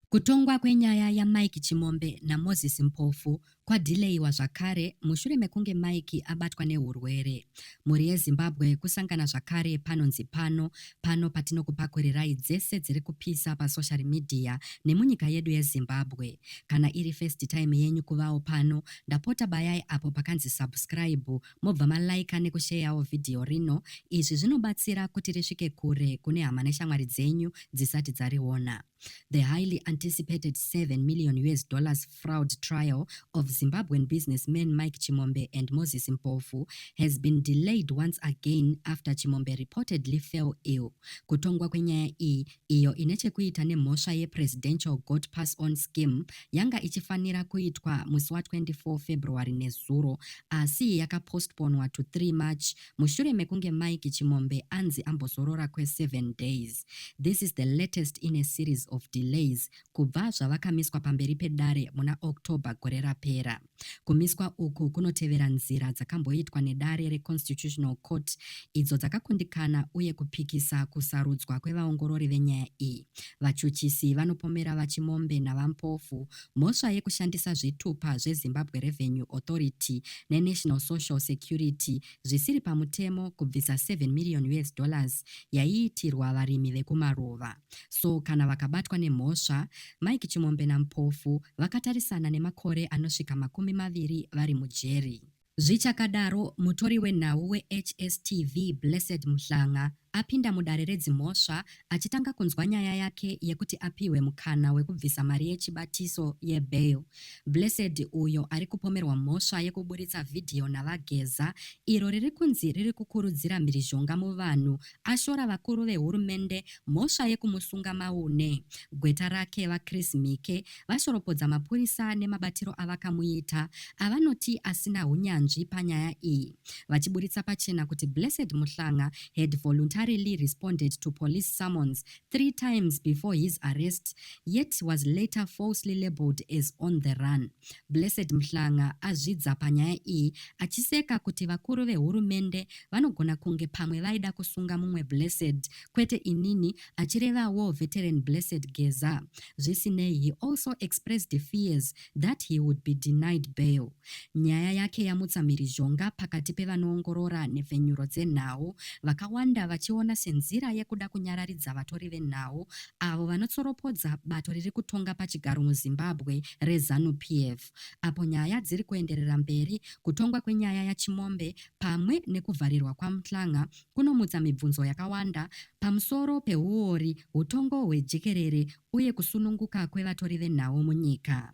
Kutongwa kwenyaya yaMike Chimombe naMoses Mpofu kwadhileyiwa zvakare mushure mekunge Mike abatwa nehurwere. Mhuri yeZimbabwe kusangana zvakare panonzi pano, pano patinokupakurirai dzese dziri kupisa pasoshari midhiya nemunyika yedu yeZimbabwe. Kana iri first time yenyu kuvawo pano, ndapota bayai apo pakanzi subscribe mobva malaika nekusheyawo vhidhiyo rino. Izvi zvinobatsira kuti risvike kure kune hama neshamwari dzenyu dzisati dzariona. The highly anticipated 7 million US dollars fraud trial of Zimbabwean businessman Mike Chimombe and Moses Mpofu has been delayed once again after Chimombe reportedly fell ill. Kutongwa kwenyaya iyi iyo ine chekuita nemhosva yePresidential Goat Pass On Scheme yanga ichifanira kuitwa musi wa 24 February nezuro asi yakapostponwa to 3 March mushure mekunge Mike Chimombe anzi ambozorora kwe 7 days. This is the latest in a series of delays kubva zvavakamiswa pamberi pedare muna October gore rapera. Kumiswa uku kunotevera nzira dzakamboitwa nedare reConstitutional Court idzo dzakakundikana uye kupikisa kusarudzwa kwevaongorori venyaya iyi. Vachuchisi vanopomera VaChimombe naVaMpofu mhosva yekushandisa zvitupa zveZimbabwe Revenue Authority neNational Social Security zvisiri pamutemo kubvisa 7 million US dollars yaiitirwa varimi vekumaruva. So kana vakabatwa nemhosva, Mike Chimombe naMpofu vakatarisana nemakore anosvika makumi maviri vari mujeri. Zvichakadaro, mutori wenhau weHSTV, Blessed Mhlanga, apinda mudare redzimhosva achitanga kunzwa nyaya yake yekuti apihwe mukana wekubvisa mari yechibatiso yebail. Blessed, uyo ari kupomerwa mhosva yekuburitsa vhidhiyo naVaGeza, iro riri kunzi riri kukurudzira mhirizhonga muvanhu, ashora vakuru vehurumende mhosva yekumusunga maune gweta rake VaChris Mhike vashoropodza mapurisa nemabatiro avakamuita avanoti asina hunyanzvi panyaya iyi vachiburitsa pachena kuti Blessed Muhlanga had voluntarily responded to police summons three times before his arrest yet was later falsely labeled as on the run. Blessed Mhlanga azvidza panyaya iyi achiseka kuti vakuru vehurumende vanogona kunge pamwe vaida kusunga mumwe Blessed kwete inini achireva war veteran Blessed Geza. Zvisinei, he also expressed fears that he would be denied bail. Nyaya yake yamutsa mhirizhonga pakati pevanoongorora nhepfenyuro dzenhau vakawanda vachiona senzira yekuda kunyararidza vatori venhau avo vanotsoropodza bato riri kutonga pachigaro muZimbabwe reZanu PF apo nyaya dziri kuenderera mberi kutongwa kwenyaya yaChimombe pamwe nekuvharirwa kwaMtlanga kunomutsa mibvunzo yakawanda pamusoro pehuori, hutongo hwejekerere uye kusununguka kwevatori venhau munyika.